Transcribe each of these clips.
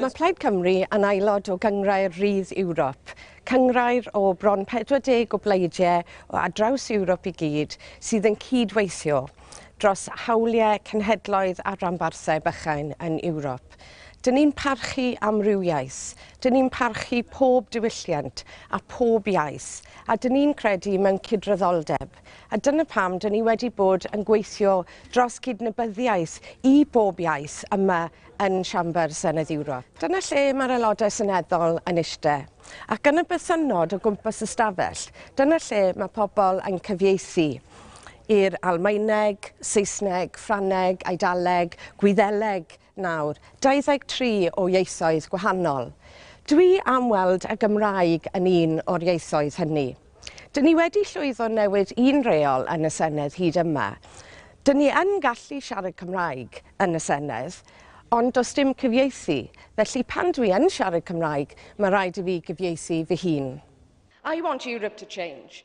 Mae Plaid Cymru yn aelod o Gynghrair Rydd Ewrop, cynghrair o bron 40 o bleidiau o ar draws Ewrop i gyd sydd yn cydweithio dros hawliau cenhedloedd a rhanbarthau bychain yn Ewrop. Ewrop. Dŷn ni'n parchu amrywiaeth, dŷn ni'n parchu pob diwylliant a phob iaith, a dŷn ni'n credu mewn cydraddoldeb. A dyna pam dŷn ni wedi bod yn gweithio dros gydnabyddiaeth i bob iaith yma yn Siambr Senedd Ewrop. Dyna lle mae'r Aelodau Seneddol yn eistedd, ac yn y bythynnod o gwmpas y stafell, dyna lle mae pobl yn cyfieithu i'r Almaeneg, Saesneg, Ffrangeg, Eidaleg, Gwyddeleg, nawr, 23 o ieithoedd gwahanol. Dwi am weld y Gymraeg yn un o'r ieithoedd hynny. Dyn ni wedi llwyddo newid un reol yn y Senedd hyd yma. Dyn ni yn gallu siarad Cymraeg yn y Senedd, ond does dim cyfieithu, felly pan dwi yn siarad Cymraeg, mae rhaid i fi gyfieithu fy hun. I want Europe to change.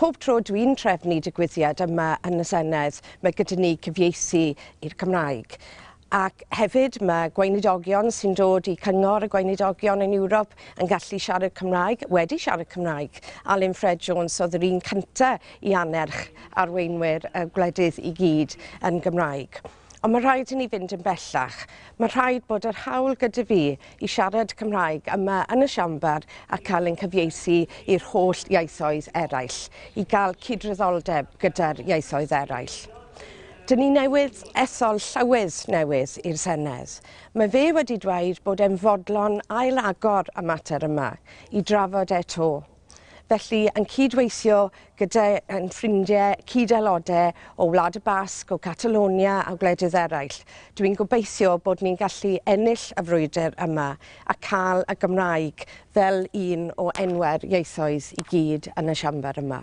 Pob tro dwi'n trefnu digwyddiad yma yn y Senedd, mae gyda ni cyfieithu i'r Cymraeg. Ac hefyd mae gweinidogion sy'n dod i Cyngor y Gweinidogion yn Ewrop yn gallu siarad Cymraeg, wedi siarad Cymraeg. Alun Ffred Jones oedd yr un cynta i annerch arweinwyr y gwledydd i gyd yn Gymraeg. Ond mae'n rhaid i ni fynd yn bellach. Mae'n rhaid bod yr hawl gyda fi i siarad Cymraeg yma yn y Siambr a cael ein cyfieithu i'r holl ieithoedd eraill, i gael cydraddoldeb gyda'r ieithoedd eraill. Dyn ni newydd ethol Llywydd newydd i'r Senedd. Mae fe wedi dweud bod e'n fodlon ail-agor y mater yma i drafod e 'to. Felly, yn cyd-weithio gyda ein ffrindiau cyd-aelodau o Wlad y Basg, o Catalonia a gwledydd eraill, dw i'n gobeithio bod ni'n gallu ennill y frwydr yma a cael y Gymraeg fel un o enwau'r ieithoedd i gyd yn y Siambr yma.